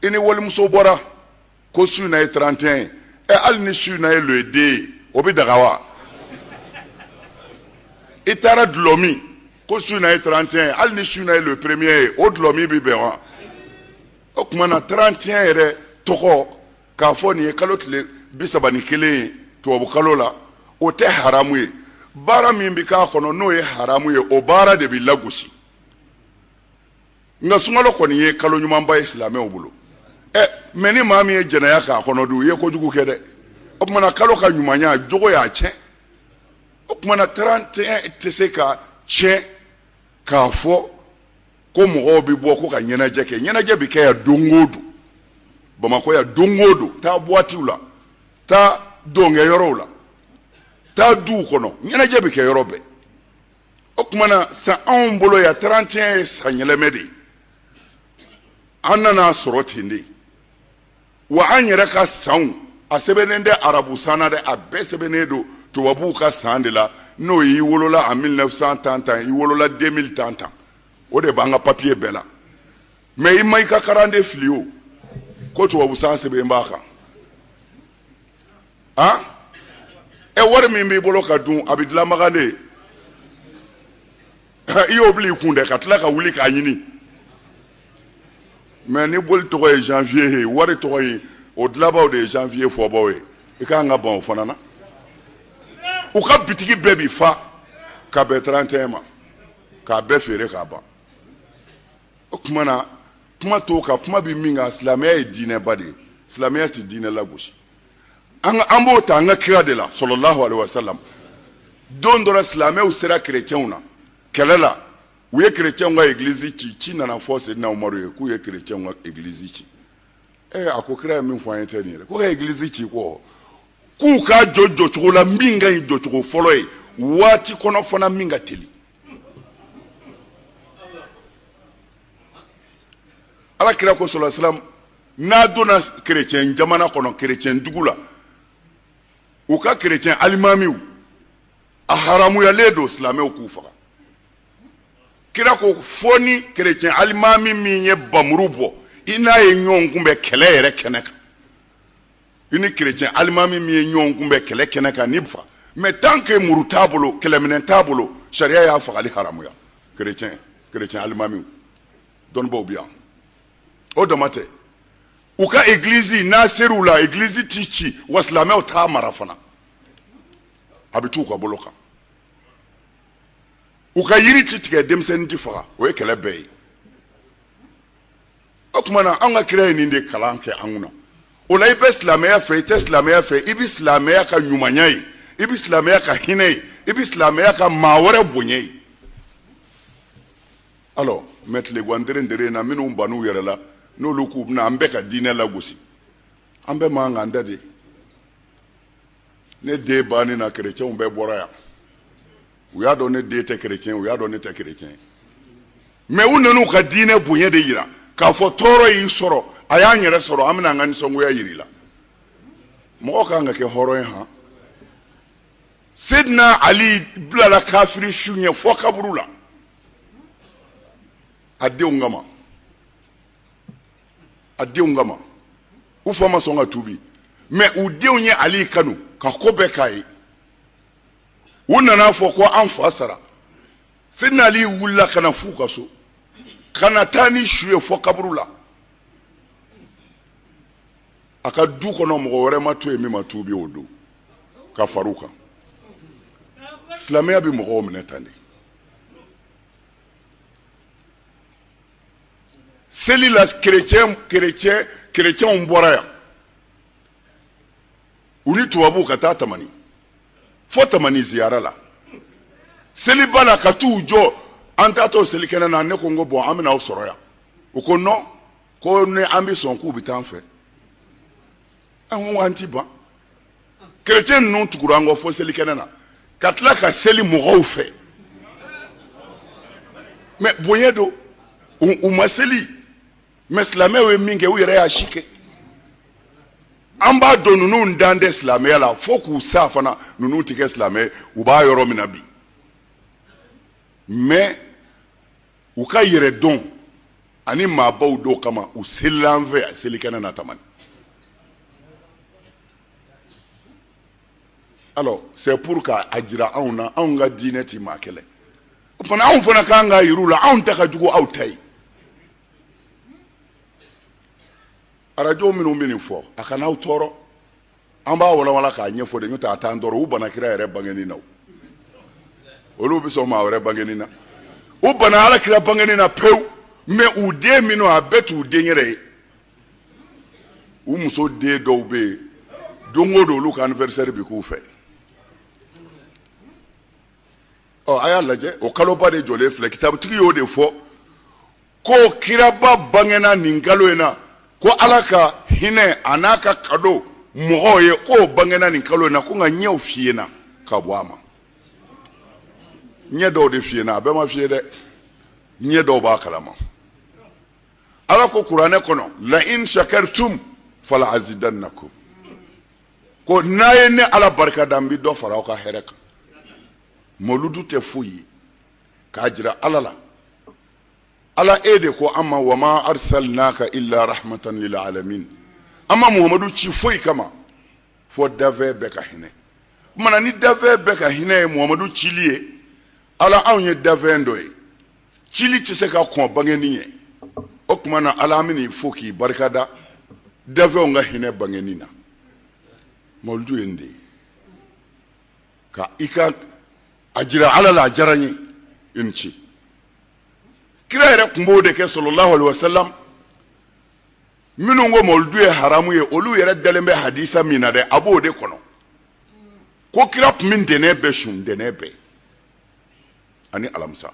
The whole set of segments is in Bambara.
i ni walimuso bɔra ko su na ye 31 ye ɛ hali ni su na ye le 2 ye o bɛ daga wa i taara dulɔmi ko su na ye 31 ye hali ni su na ye le premier ye o dulɔmi bɛ bɛn wa o tuma na 31 yɛrɛ tɔgɔ k'a fɔ nin ye kalo tile bi saba ni kelen ye tubabu kalo la o tɛ haramu ye baara min bɛ k'a kɔnɔ n'o ye haramu ye o baara de bɛ lagosi nka sunkalo kɔni ye kalo ɲumanba ye silamɛw bolo ɛ mɛ ni maa min ye jɛnɛya k'a kɔnɔ dun i ye kojugu kɛ dɛ o tuma na kalo ka ɲumanya jogo y'a tiɲɛ o tuma na 31 tɛ se ka tiɲɛ k'a fɔ ko mɔgɔw bɛ bɔ ko ka ɲɛnajɛ kɛ ɲɛnajɛ bɛ kɛ yan don o don bamakɔ yan don o don taa buwatiw la taa dɔnkɛyɔrɔw la taa duw kɔnɔ ɲɛnajɛ bɛ kɛ yɔrɔ bɛɛ o tuma na san anw bolo yan 31 ye san yɛlɛmɛ de ye an nan'a sɔrɔ ten de wa an yɛrɛ ka sanw a sɛbɛnnen tɛ arabu san na dɛ a bɛɛ sɛbɛnnen don tubabuw ka san de la n'o y'i wolola en 1900 tan tan i wolola 2000 tan tan o de b'an ka papiye bɛɛ la mɛ i ma i ka karande fili o ko tubabu san sɛbɛn b'a kan a ɛ wari min b'i bolo ka dun a bɛ dilanbaga de i y'o bila i kun dɛ ka tila ka wuli k'a ɲini mɛ ni boli tɔgɔ ye janvier ye wari tɔgɔ ye o dilanbaw de ye janvier fɔbaw ye i ka kan ka ban o fana na u ka bitigi bɛɛ bi fa ka bɛn 31 ma k'a bɛɛ feere k'a ban o tuma na kuma t'o kan kuma bɛ min kan silamɛya ye diinɛba de ye silamɛya tɛ diinɛ lagosi an ka an b'o ta an ka kira de la sallallahu alaihi wasallam don dɔ la silamɛw sera kerecɛnw na kɛlɛ la u ye kerecɛnw ka egilizi ci ci nana fɔ sedina umaru ye k'u ye kerecɛnw ka egilizi ci ee a ko kira ye min fɔ an ye tɛ nin ye ko ka egilizi ci ko k'u k'a jɔ jɔcogo la min ka ɲi jɔcogo fɔlɔ ye waati kɔnɔ fana min ka teli ala kira ko sallallahu alaihi wasallam n'a donna kerecɛn jamana kɔnɔ kerecɛn dugu la u ka kerecɛn alimamiw a haramuyalen don silamɛw k'u faga kira ko fo ni kerecɛn alimami min ye npanmuru bɔ i n'a ye ɲɔgɔn kunbɛn kɛlɛ yɛrɛ kɛnɛ kan i ni kerecɛn alimami min ye ɲɔgɔn kunbɛn kɛlɛ kɛnɛ kan ni fa mɛ tant que muru t'a bolo kɛlɛminɛn t'a bolo sariya y'a fagali haramuya kerecɛn kerecɛn alimamiw dɔnnibaw bi yan o dama tɛ u ka egilizi n'a ser'u la egilizi ti ci wa silamɛw t'a mara fana a bɛ t'u ka bolo kan u ka yiri ti tigɛ denmisɛnnin ti faga o ye kɛlɛ bɛɛ ye o tuma na an ka kira ye nin de kalan kɛ an kunna o la i bɛ silamɛya fɛ i tɛ silamɛya fɛ i bɛ silamɛya ka ɲumanya ye i bɛ silamɛya ka hinɛ ye i bɛ silamɛya ka maa wɛrɛ bonya ye alors mɛ tileguan deren deren na minnu ban'u yɛrɛ la n'olu k'u bɛna an bɛɛ ka diinɛ lagosi an bɛɛ man kan da de ne den banni na kerecɛnw bɛɛ bɔra yan u y'a dɔn ne den tɛ kerecɛn u y'a dɔn ne tɛ kerecɛn mɛ u nan'u ka diinɛ bonya de yira k'a fɔ tɔɔrɔ y'i sɔrɔ a y'an yɛrɛ sɔrɔ an bɛna an ka nisɔngoya yir'i la mɔgɔ kan ka kɛ hɔrɔn ye han sedina ali bilala kafiri su ɲɛ fɔ kaburu la a denw kama a denw kama u fa ma sɔn ka tuubi mɛ u denw ye ali kanu ka ko bɛɛ k'a ye u nan'a fɔ ko an fa sara sedina ali wulila ka na f'u ka so ka na taa ni su ye fɔ kaburu la a ka du kɔnɔ mɔgɔ wɛrɛ ma to yen min ma tuubi o don ka far'u kan silamɛya bɛ mɔgɔw minɛ tan de seli la kerecɛn kerecɛn kerecɛnw bɔra yan u ni tubabuw ka taa tamani fo tamani ziyara la seliba la ka t'u jɔ an taatɔ selikɛnɛ na ne ko n ko bɔn an bɛna aw sɔrɔ yan u ko nɔn ko ni an bɛ sɔn k'u bɛ taa an fɛ an ko an ti ban kerecɛn ninnu tugura an kɔ fo selikɛnɛ na ka tila ka seli mɔgɔw fɛ mɛ bonya don u ma seli mɛ silamɛw ye min kɛ u yɛrɛ y'a si kɛ an b'a dɔn ninnu dan tɛ silamɛya la fo k'u sa fana ninnu tɛ kɛ silamɛ u b'a yɔrɔ min na bi mɛ u ka yɛrɛ dɔn ani maabaw dɔw kama u selila an fɛ a selikɛnɛ na tamani alors c'est pour k'a jira anw na anw ka diinɛ ti maa kɛlɛ o tuma anw fana kan k'a yir'u la anw ta ka jugu aw ta ye arajo minnu bɛ nin fɔ a kana aw tɔɔrɔ an b'a walawala k'a ɲɛfɔ de n'o tɛ a t'an tɔɔrɔ u bana kira yɛrɛ bangeni na olu bɛ sɔn maa wɛrɛ bangeni na u bana ala kira bangeni na pewu mɛ u den minnu a bɛɛ t'u den yɛrɛ ye u muso den dɔw bɛ yen don o don olu ka anniversaire bɛ k'u fɛ ɔ a y'a lajɛ o kaloba de jɔlen filɛ kitabutigi y'o de fɔ ko kiraba bangena nin kalo in na ko ala ka hinɛ an'a ka kado mɔgɔw ye k'o bangena nin kalo in na ko nka ɲɛw fiyena ka bɔ a ma ɲɛ dɔw de fiyena a bɛɛ ma fiye dɛ ɲɛ dɔw b'a kalama ala ko kuranɛ kɔnɔ la in shakartum fala azidannakum ko n'a ye ne ala barika da n bɛ dɔ fara aw ka hɛrɛ kan moludu tɛ foyi ye k'a jira ala la ala e de ko an ma wa ma arsalnaka illa rahmatan lil alamin an ma muhamadu ci foyi kama fo dafɛn bɛɛ ka hinɛ o tuma na ni dafɛn bɛɛ ka hinɛ ye muhamadu cili ye ala anw ye dafɛn dɔ ye cili tɛ se ka kɔn bangeni ɲɛ o tuma na ala an bɛn'i fo k'i barika da dafɛnw ka hinɛ bangeni na mawuludu ye nin de ye ka i ka a jira ala la a diyara n ye i ni ce kira yɛrɛ tun b'o de kɛ sallallahu alaihi wasallam minnu ko mawuludu ye haramu ye olu yɛrɛ dalen bɛ hadisa min na dɛ a b'o de kɔnɔ ko kira tun bɛ ntɛnɛn bɛɛ sun ntɛnɛn bɛɛ ani alamisa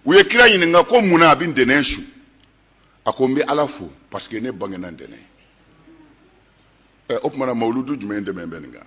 u ye kira ɲininka ko mun na a bɛ ntɛnɛn sun a ko n bɛ ala fo parce que ne bangena ntɛnɛn o tuma na mawuludu jumɛn tɛmɛnen bɛ nin kan